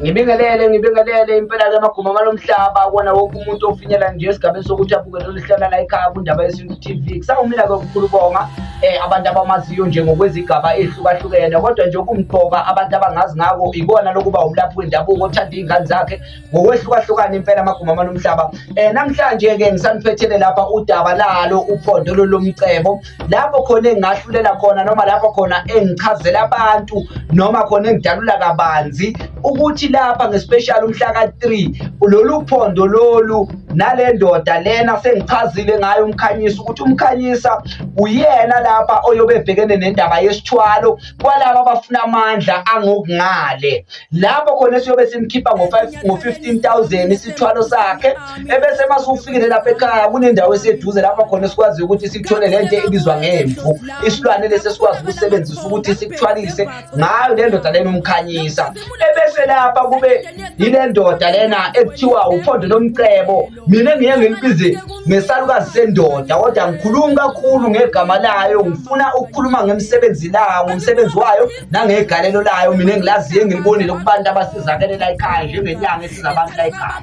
Ngibingelele ngibingelele impela ke maguma malomhlaba kona wonke umuntu ofinyela nje esigabeni sokuthi abuke lolu hlala la ekhaya kundaba yesintu TV kusawumina ke ukukhulubonga eh, abantu abamaziyo nje ngokwezigaba ehlukahlukene kodwa nje okumqoka abantu abangazi ngako ikona lokuba umlaphi wendabuko othanda iy'ngane zakhe ngokwehlukahlukana impela amaguma amalomhlaba um eh, namhlanje-ke ngisaniphethelele lapha udaba lalo uphondo lolomcebo lapho khona engingahlulela khona noma lapho khona engichazela abantu noma khona engidalula kabanzi ukuthi lapha ngespecial umhla ka-three lolu phondo lolu nale ndoda lena sengichazile ngayo umkhanyisa ukuthi umkhanyisa uyena lapha oyobe ebhekene nendaba yesithwalo kwalabo abafuna amandla angokungale lapho khona esiyobe simkhipha ngo-15000 isithwalo sakhe ebese uma siwufikile lapha ekhaya kunendawo eseduze lapho khona esikwazi ukuthi sithole le nto ebizwa ngemvu isilwane lesi esikwazi ukusebenzisa ukuthi sikuthwalise ngayo le ndoda lena umkhanyisa ebese lapha kube yile ndoda lena ekuthiwa uphondo lomcebo mina ngiye ngilibize ngesalukazi sendoda kodwa ngikhulumi kakhulu ngegama layo ngifuna ukukhuluma ngemsebenzi layo ngomsebenzi wayo nangegalelo layo mina engilaziyo engilibonile kubantu abasizakele la ekhaya njengenyanga esiza abantu la ekhaya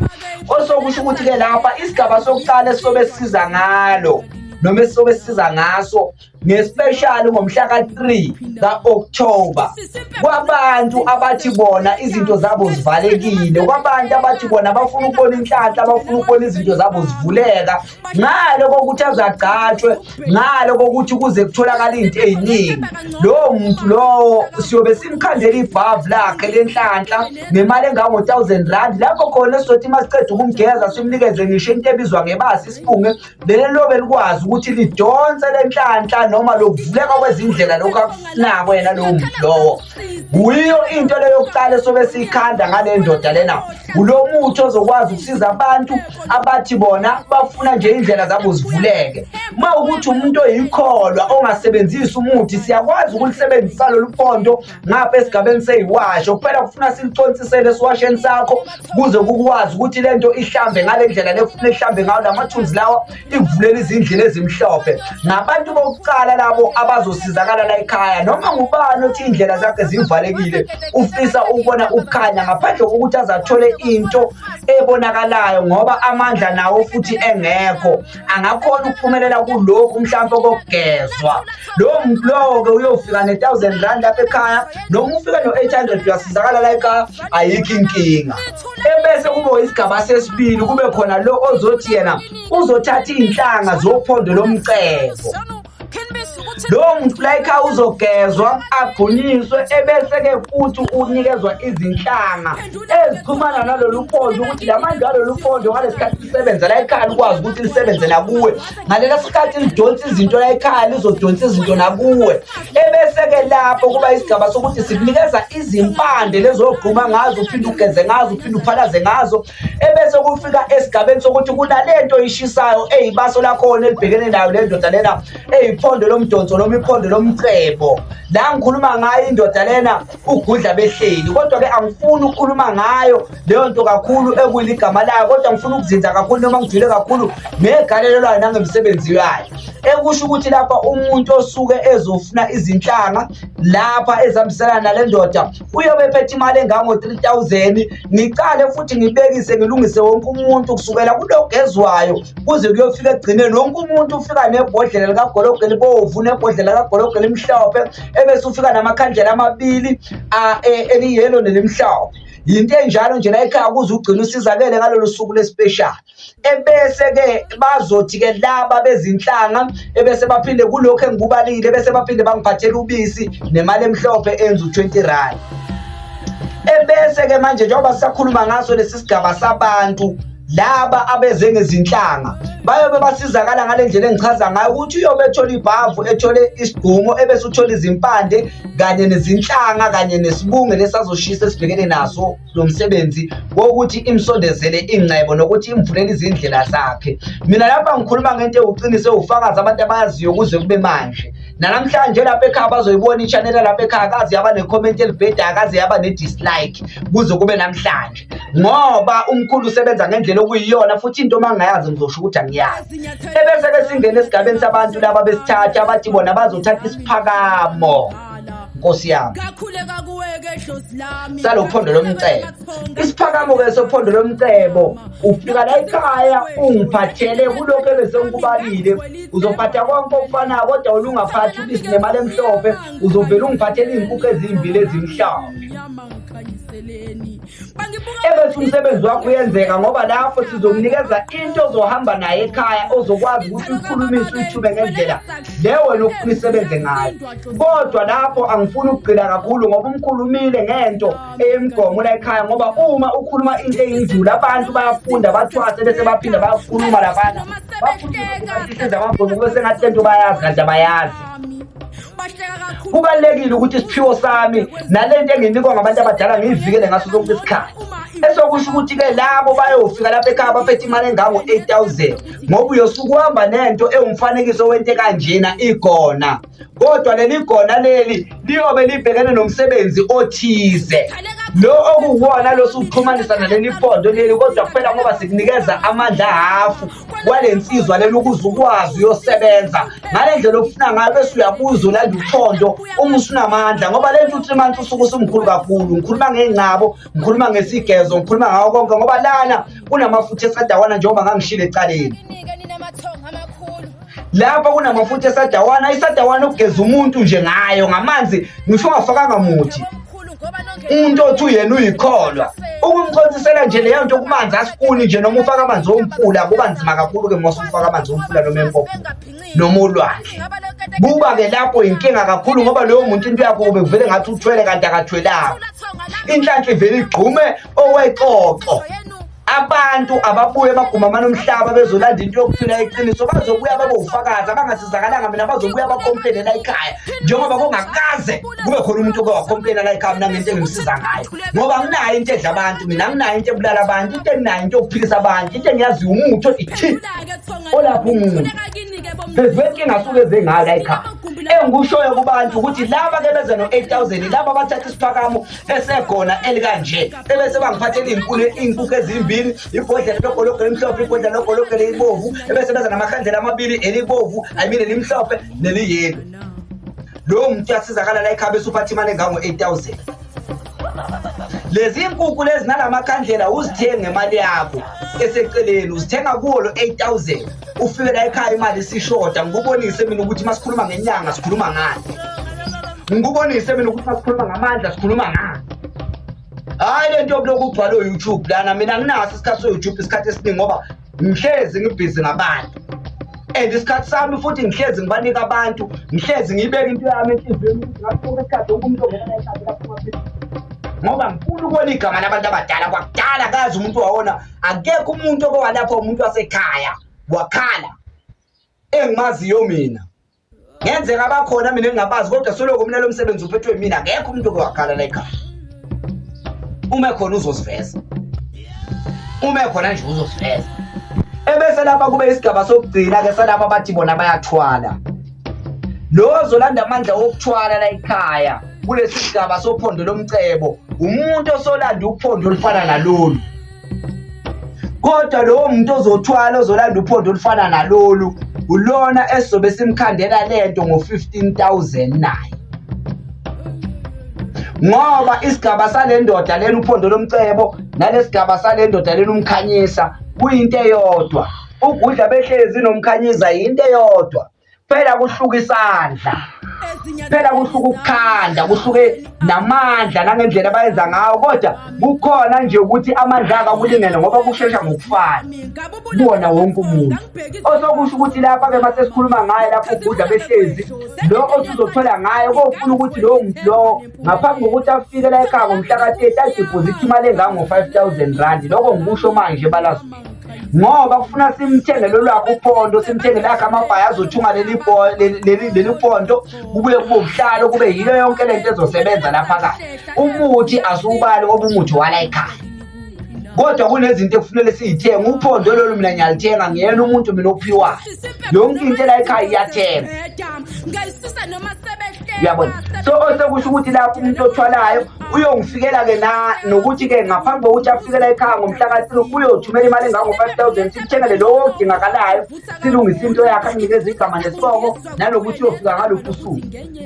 osokusho ukuthi-ke lapha isigaba sokuqala esisobe sisiza ngalo noma esisobe sisiza ngaso ngespeshali ngomhla ka-3 ka-October kwabantu abathi bona izinto zabo zivalekile kwabantu abathi bona bafuna ukubona inhlanhla abafuna ukubona izinto zabo zivuleka ngalo kokuthi azagcatshwe ngalo kokuthi kuze kutholakala izinto eziningi lowo muntu lowo siyobe simkhandela ibhavu lakhe lenhlanhla nemali engango-1000 rand lapho khona esizothi uma siceda ukumgeza simnikeze ngisho into ebizwa ngebasi isifunge leli lobe likwazi ukuthi lidonse lenhlanhla noma lokuvuleka kwezindlela lokhu akusinako yena lowo muntu lowo kuyiyo into leyo yokuqala esobe siyikhanda ngale ndoda lena kulo muthi ozokwazi ukusiza abantu abathi bona bafuna nje indlela zabo zivuleke uma ukuthi umuntu oyikholwa ongasebenzisi umuthi siyakwazi ukulisebenzisa lolu pondo ngapha esigabeni seyiwashe kuphela kufuna siliconsisele esiwasheni sakho kuze kukwazi ukuthi le nto ihlambe ngale ndlela lefuna ihlambe ngayo la mathunzi lawa ikuvulele izindlela ezimhlophe ngabantu bokuqala labo abazosizakala la ekhaya noma ngubani othi iy'ndlela zakhe zivalekile ufisa ukubona ukukhanya ngaphandle kokuthi azathole into ebonakalayo ngoba amandla nawo futhi engekho angakhona ukuphumelela kulokhu mhlawumbe okokugezwa lowo muntu lowo-ke uyofika ne-thousand rand lapha ekhaya noma ufike no-eight hundred uyasizakala la ekhaya ayikho inkinga ebese kube isigaba sesibili kube khona lo ozothi yena uzothatha iy'nhlanga zophondo lomcebo lowo muntu layikha uzogezwa agonyiswe ebese-ke futhi unikezwa izinhlanga ezixhumana nalolu phondo ukuthi la manje alolu phondo ngalesi khathi lisebenza layikhaya likwazi ukuthi lisebenze nakuwe ngalelo sikhathi lidonsa izinto layikhaya lizodonsa izinto nakuwe ebese-ke lapho kuba isigaba sokuthi sikunikeza izimpande lezogquma ngazo uphinde ugeze ngazo uphinde uphalaze ngazo ebese kufika esigabeni sokuthi kunalento ishisayo eyibaso lakhona elibhekene nayo le ndoda lena eyiphondo lomdonso noma iphondo lomcebo la ngikhuluma ngayo indoda lena ugudla behleli kodwa-ke angifuni ukukhuluma ngayo leyo nto kakhulu ekuyiligama layo kodwa ngifuna ukuzinza kakhulu noma ngijule kakhulu ngegalelo layo nangemisebenzi yayo ekusho ukuthi lapha umuntu osuke ezofuna izinhlanga lapha ezihambisana nale ndoda uyobe ephethe imali engango-3000 ngiqale futhi ngibekise ngilungise wonke umuntu kusukela kulogezwayo kuze kuyofika ekugcineni wonke umuntu ufika nebhodlela likagologo elibovu nebhodlela likagologo elimhlophe ebese ufika namakhandlela amabili e, eliyelo nelimhlophe yinto enjalo nje la ekhaya kuze ugcine usizakele ngalolu suku lespeshali ebese-ke bazothi-ke laba bezinhlanga ebese baphinde kulokhu engikubalile bese baphinde bangiphathela ubisi nemali emhlophe enza u-20 rand ebese-ke manje njengoba sisakhuluma ngaso lesi sigaba sabantu laba abeze ngezinhlanga bayobe basizakala ngale ndlela engichaza ngayo ukuthi uyobe ethola ibhavu ethole isigqumo ebese uthola izimpande kanye nezinhlanga kanye nesibunge lesazoshisa esibhekene naso lo msebenzi wokuthi imsondezele ingcebo nokuthi imvulele izindlela zakhe mina lapha ngikhuluma ngento ewuqinise ufakazi abantu abayaziyo kuze kube manje nanamhlanje lapha ekhaya bazoyibona i-channel lapha ekhaya kaze yaba ne-comment elibhedayo kaze yaba ne-dislike kuze kube namhlanje ngoba umkhulu usebenza ngendlela okuyiyona futhi into uma ngingayazi ngizosho ukuthi angiyazi ebese-ke singena esigabeni sabantu laba besithatha abathi bona bazothatha isiphakamo nkosi yami salophondo lomcebo isiphakamo-ke sophondo lomcebo ufika la ekhaya ungiphathele kulokhu ebesengikubalile uzophatha konke okufanayo kodwa olungaphathi ubisi nemali emhlophe uzovele ungiphathele iy'nkukhu ezimbili ezimhlophe ebethi umsebenzi wakho uyenzeka ngoba lapho sizokunikeza into ozohamba naye ekhaya ozokwazi ukuthi ukhulumise uyithube ngendlela le wena ofuna isebenze ngayo kodwa lapho angifuni ukugcina kakhulu ngoba umkhulumile ngento eyemgomo la ekhaya ngoba uma ukhuluma into eyinjulu abantu bayafunda bathwase bese baphinde bayakhuluma laphana bakhuluma sengathi lento bayazi kanti abayazi kubalulekile ukuthi isiphiwo sami nalento enginikwa ngabantu abadala ngiyivikele ngaso sonke isikhathi esokusho ukuthi-ke labo bayofika lapha ekhaya baphethe imali engango-eight thousand ngoba uyosuke uhamba nento ewumfanekiso wento ekanjena igona kodwa leli gona leli liyobe libhekene nomsebenzi othize lo okuwona losuxhumanisa naleli pondo leli kodwa kuphela ngoba sikunikeza amandla hafu kwale nsizwa lena ukuze ukwazi uyosebenza ngale ndlela ofuna ngayo bese uyabuza ulanda uthondo uma usunamandla ngoba le nto u-three months usuke usumkhulu kakhulu ngikhuluma ngey'ngcabo ngikhuluma ngesigezo ngikhuluma ngawo konke ngoba lana kunamafutha esadawana njengoba ngangishile ecaleni lapha kunamafutha esadawana isadawana ukugeza umuntu nje ngayo ngamanzi ngisho ungafakanga muthi umuntu othi uyena uyikholwa ukumchonsisela nje leyo nto kumanzi asifuni nje noma ufaka amanzi omfula kuba nzima kakhulu-ke mose ufaka amanzi omfula noma empopo noma olwandle kuba-ke lapho yinkinga kakhulu ngoba loyo muntu into yakho kube kuvele ngathi uthwele kanti akathwelanga inhlanhla ivele igqume owexoxo abantu ababuye bagumamana umhlaba bezolanda into yokuphila iqiniso bazobuya babofakazi abangasizakalanga mina bazobuya bakomplene la ikhaya njengoba kungakaze kube khona umuntu oke wakomplena la ikhaya mina ngento engimsiza ngayo ngoba nginayo into edla abantu mina nginayo into ebulala abantu into enginayo into yokuphilisa abantu into engiyaziyo umuthi othi thi olapha umuntu phezu kwenkinga asuke eze ngayo la ikhaya engikushoyo kubantu ukuthi laba ke beze no-8 000 laba bathatha isiphakamo esegona elikanje ebese bangiphathela iy'nkuni iy'nkukhu ezimbili ibhodlela logologo elimhlophe ibhodlela logologo elibovu ebese beza namakhandlela amabili elibovu i mean elimhlophe neliyelo lowo muntu uyasizakala la ekhaba esuphathi imali engango-eight thousand lezi nkukhu lezi nalamakhandlela uzithenga ngemali yakho eseceleni uzithenga kuwo lo-eight thousand ufike la ekhaya imali isishoda ngikubonise mina ukuthi uma sikhuluma ngenyanga sikhuluma ngani ngikubonise mina ukuthi uma sikhuluma ngamandla sikhuluma ngani hhayi le nto yokulokhu ugcwala o-youtube lana mina nginaso isikhathi so-youtube isikhathi esiningi ngoba ngihlezi ngibhizi ngabantu and isikhathi sami futhi ngihlezi ngibanika abantu ngihlezi ngiyibeke into yami enhliziyweni ukuthi ngasoke isikhathi wonke umuntu ongenanayihlazikaphuma ngoba ngifuna ukubona igama labantu abadala kwakudala kazi umuntu wawona akekho umuntu okowalapha umuntu wasekhaya wakhala engimaziyo mina ngenzeka bakhona mina engingabazi kodwa soloko mina lo msebenzi uphethwe mina akekho umuntu okowakhala la ekhaya uma ekhona uzosiveza uma ekhona nje uzosiveza ebese lapha kube isigaba sokugcina-ke salapha bathi bona bayathwala Lowo ozolanda amandla wokuthwala la ekhaya kulesi sigaba sophondo lomcebo umuntu osolanda uphondo olufana nalolu kodwa lowo muntu ozothwala ozolanda uphondo olufana nalolu ulona esizobe simkhandela lento ngo-15000 naye ngoba isigaba sale ndoda lena uphondo lomcebo nalesigaba sale ndoda lena umkhanyisa kuyinto eyodwa Ugudla behlezi nomkhanyiza yinto eyodwa phela kuhluka isandla phela kuhluka ukukhanda kuhluke namandla nangendlela abayenza ngawo kodwa kukhona nje ukuthi amandla aka kulingene ngoba kushesha ngokufana kubona wonke umuntu osokusho ukuthi lapha ke mase sikhuluma ngaye lapho ugudla behlezi lo osuzothola ngaye kofuna ukuthi lowo muntu lowo ngaphambi kokuthi afike la ekhaya ngomhla ka-30 adiphozithe imali engango-5000 rand lokho ngikusho manje balazulu ngoba kufuna simthenge lolwakhe upondo simthenge lakhe amabhayi azothunga leli pondo kubuye kube ubuhlalo kube yilo yonke le nto ezosebenza laphakathi umuthi asiwubali ngoba umuthi wala ekhaya kodwa kunezinto ekufunele siyithenge uphondo lolu mina ngiyalithenga ngiyena umuntu mina ophiwayo yonke into ela ekhaya iyathenga uyabona so osekusho ukuthi lapho umuntu othwalayo uyongifikela ke na nokuthi ke ngaphambi kokuthi afikela ekhaya ngomhla ka-three uyothumela imali engango-five thousand sikuthengele lowo odingakalayo silungise into yakhe anikeza igama nesiboko nalokuthi uyofika ngaluphi usuku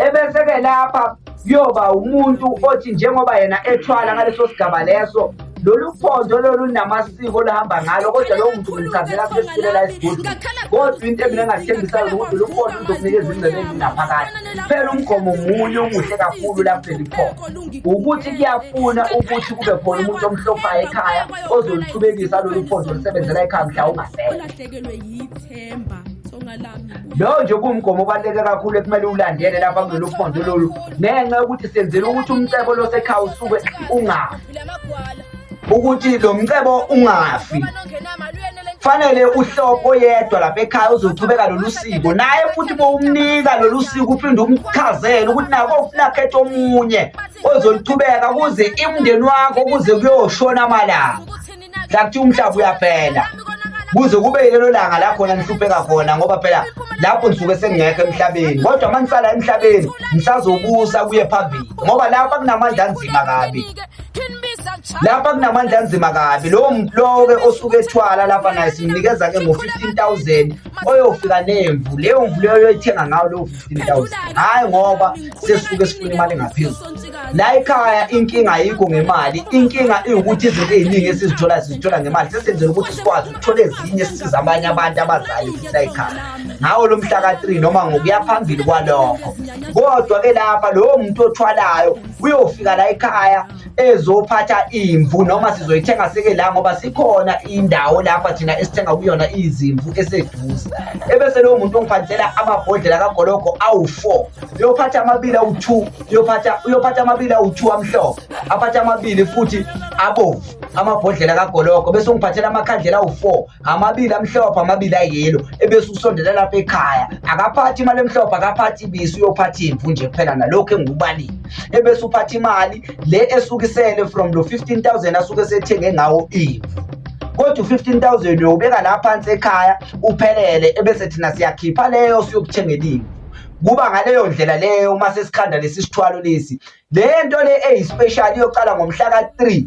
ebese-ke lapha kuyoba umuntu othi njengoba yena ethwala ngaleso sigaba leso lolu phondo lolu linamasiko olahamba ngalo kodwa lowo muntu ngimchazela sesilela isigodi kodwa into mina engathembisa yona ukuthi lolu phondo luzokunikeza ingcebo ezingaphakathi phela umgomo munye omuhle kakhulu lapho elikhona ukuthi kuyafuna ukuthi kube khona umuntu omhlophayo ekhaya ozoluqhubekisa lolu phondo olusebenzela ekhaya mhla ungasekho lowo nje kuwumgomo obaluleke kakhulu ekumele uwulandele lapha kulolu phondo lolu ngenxa yokuthi senzela ukuthi umcebo losekhaya usuke ungafi ukuthi lo mcebo ungafi fanele uhloko yedwa lapha ekhaya uzochubeka lolu siko naye futhi bowumnika lolu siko uphinde umchazele ukuthi nako ufuna khetha omunye ozoluchubeka kuze imndeni wakho kuze kuyoshona amalanga sakuthi umhlaba uyaphela kuze kube yilelo langa la khona nihlupheka khona ngoba phela lapho nisuke sengekho emhlabeni kodwa uma nisala emhlabeni nisazobusa kuye phambili ngoba lapha kunamandla anzima kabi lapha kunamandla anzima kabi lowo muntu lowo-ke osuke ethwala lapha naye simnikeza-ke ngo-fifteen thousand oyofika nemvu leyo mvu leyo yoyithenga ngayo leyo fifteen thousand hhayi ngoba sesuke sifuna imali engaphezulu la ekhaya inkinga ayikho ngemali inkinga iwukuthi izinto eziningi esizithola sizithola ngemali sesenzela ukuthi sikwazi ukuthola ezinye sisiza abanye abantu abazali ukuthi la ekhaya ngawo lo mhla ka-3 noma ngokuya phambili kwalokho kodwa-ke lapha lowo muntu othwalayo uyofika la ekhaya ezophatha imvu noma sizoyithenga seke la ngoba sikhona indawo lapha thina esithenga kuyona izimvu eseduze ebese lowo muntu ongiphathela amabhodlela kagologo awu-four uyophatha amabili awu-two uyophatha uyophatha amabili awu-two amhlophe aphathe amabili futhi abomvu amabhodlela kagologo bese ungiphathela amakhandlela awu-four amabili amhlophe amabili ayelo ebese usondela lapha ekhaya akaphathi imali emhlophe akaphathi ibisi uyophatha imvu nje kuphela nalokhu engikubalile ebese uphatha imali le esukisele from lo 15000 asuke esethenge ngawo imvu kodwa u-15000 uyowubeka la phansi ekhaya uphelele ebese thina siyakhipha leyo siyokuthengela imvu kuba ngaleyo ndlela leyo uma sesikhanda lesi sithwalo lesi le nto le eyispecial iyocala ngomhla ka-3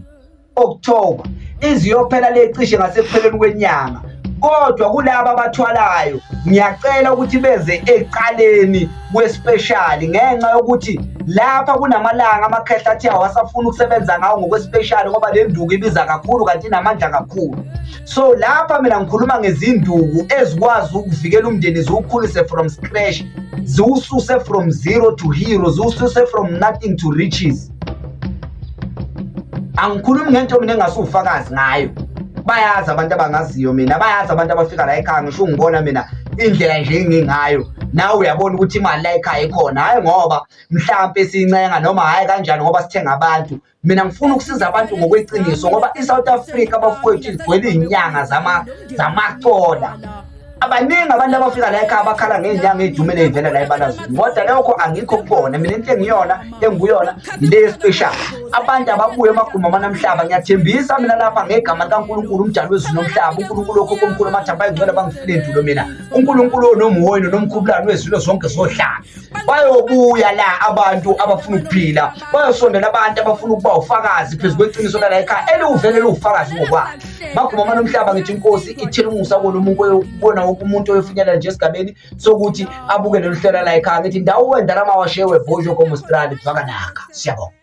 October iziyophela lecishe ngasekupheleni kwenyanga kodwa kulabo abathwalayo ngiyacela ukuthi beze eqaleni kwespeshali ngenxa yokuthi lapha kunamalanga amakhehla athi awasafuni ukusebenza ngawo ngokwespeshali ngoba le nduku ibiza kakhulu kanti inamandla kakhulu so lapha mina ngikhuluma ngezinduku ezikwazi ukuvikela umndeni ziwukhulise from scratch ziwususe from zero to hero ziwususe from nothing to riches angikhulumi ngento mina engasuwufakazi ngayo bayazi abantu abangaziyo mina bayazi abantu abafika la ekhaya ngisho ungibona mina indlela nje engingayo nawe uyabona ukuthi imali la ekhaya ikhona hhayi ngoba mhlampe sincenga noma hhayi kanjani ngoba sithenga abantu mina ngifuna ukusiza abantu ngokweqiniso ngoba i-south africa bafowethu igcwele iy'nyanga zamacola abaningi abantu abafika la ekhaya bakhala ngey'nyanga ey'dumele ey'vela la ebalazweni kodwa lokho angikho kubona mina into engiyona engiyona yile special abantu ababuye emaguma amanamhlaba ngiyathembisa mina lapha ngegama likankulunkulu umdali wezulu nomhlaba unkulunkulu okho komkhulu amathamba ayingcwele bangifile ndulo mina unkulunkulu onomuhoyino nomkhubulani wezilo zonke zohlanga bayobuya la abantu abafuna ukuphila bayosondela abantu abafuna ukuba ufakazi phezu kweqiniso lala ekhaya eliwuvele liwufakazi ngokwakhe bagumama nomhlaba ngithi inkosi ithela umusa kona umuntu kona wonke umuntu oyofinyelela nje esigabeni sokuthi abuke lolu hlela la ekhaya ngithi ndawo wendala mawashewe bojo komostrali bhakanaka siyabonga